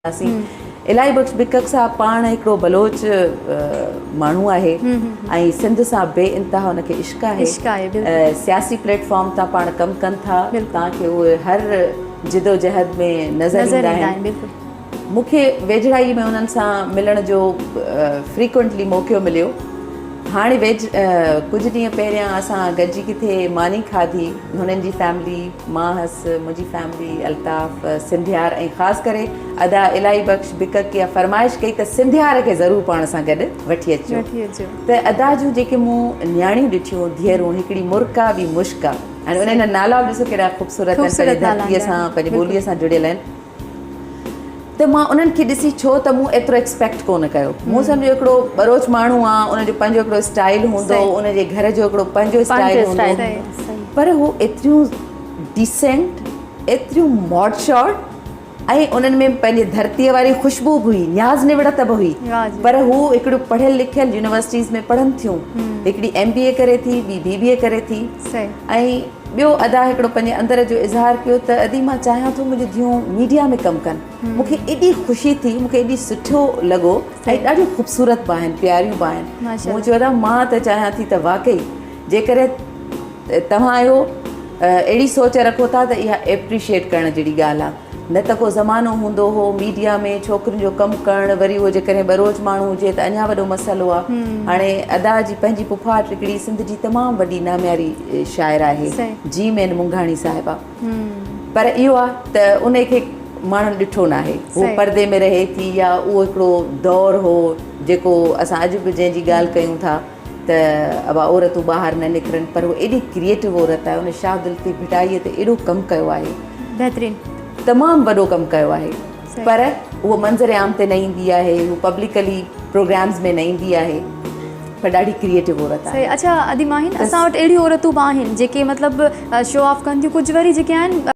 الاهي بخش بڪڪ صاحب پاڻ هڪڙو بلوچ ماڻهو آهي ۽ سنڌ سان بي انتها ان کي عشق آهي سياسي پليٽ فارم تان پاڻ ڪم ڪن ٿا تان کي اهي هر جدوجهد ۾ نظر ايندا آهن مون کي ويجهڙائي ۾ انهن سان ملڻ جو فريڪوئنٽلي موقعو مليو هاڻي ويجهه ڪجهه ڏينهن پهريان اسان گڏجي ڪٿي ماني کاڌي. هنن جي فيملي، مان هئس، منهنجي فيملي، الطاف، سنڌيار ۽ خاص ڪري ادا الاهي بخش بڪڪ اها فرمائش ڪئي ته سنڌيار کي ضرور پاڻ سان گڏ وٺي اچجو ته ادا جون جيڪي مون نياڻيون ڏٺيون ڌيئرون هڪڙي مرڪا ٻي مشڪا هاڻي انهن جا نالا به ڏسو ڪيڏا خوبصورت آهن پنهنجي ڌرتي سان پنهنجي ٻولي سان جڙيل آهن. ته مان انهن کي ڏسي ڇو ته مون ايترو ايڪسپيڪٽ ڪونه ڪيو مون سمجهيو هڪڙو ٻروچ ماڻهو آ ان جو پنهنجو هڪڙو اسٽائل هوندو ان جي گهر جو هڪڙو پنهنجو اسٽائل هوندو پر هو ايتريون ڊيسنٽ ايتريون ماڊشارٽ ۽ انهن ۾ پنهنجي ڌرتي واري خوشبو به هئي نياز نوڙت به هئي پر هو هڪڙو پڙهيل لکيل يونيورسٽيز ۾ پڙهن ٿيون هڪڙي ايم بي اي ڪري ٿي ٻي بي بي اي ڪري ٿي ۽ ٻيو ادا هڪڙو پنهنجي اندر جو اظهار ڪيو ته ادي مان چاهيان ٿو منهنجون ڌيئون ميڊيا ۾ ڪم ڪن مون کي ايڏي خوشي ٿي مون کي ايڏي سٺو لڳو ۽ ڏاڍيون خوبصورت به آهن پياريون به آهن مون چيو ادا مان ته چاهيان ٿي ته واقعي جيڪڏهن توهان اهو اهڙي سوچ رکو ٿا ته اها ايپريشيئيٽ ڪرڻ جهڙي ڳالهه آهي نه ته ڪو زمانو هوندو هو ميڊيا ۾ ڇوڪرين جو ڪم ڪرڻ وري هو جيڪڏهن ٻروچ ماڻهو هجي ته اڃا وڏو مسئلو آ هاڻي ادا جي پنهنجي پڦاٽ هڪڙي سنڌ جي تمام وڏي نامياري شاعر آهي جيم اين منگهاڻي صاحبه پر اهو آ ته ان کي ماڻهن ڏٺو ناهي هو پردي ۾ رهي ٿي يا اهو هڪڙو دور هو جيڪو اسان اڄ به جنهن جي ڳالهه ڪيون ٿا ته اھا عورتون ٻاھر نه نڪرن پر ھوء ايڏي ڪريئيٽو عورت آھي ھن شاھدل تي ڀٽائي تي ايڏو ڪم ڪيو آھي بھترين تمام وڏو ڪم ڪيو آھي پر ھوء منظر عام تي نه ايندي آھي ھوء پبلڪلي پروگرامز ۾ نه ايندي آھي پر ڏاڍي ڪريئيٽو عورت آھي اڇا ادي ماھين اسان وٽ اھڙيون عورتون به آھن جيڪي مطلب شو آف ڪن ٿيون ڪجھ وري جيڪي آھن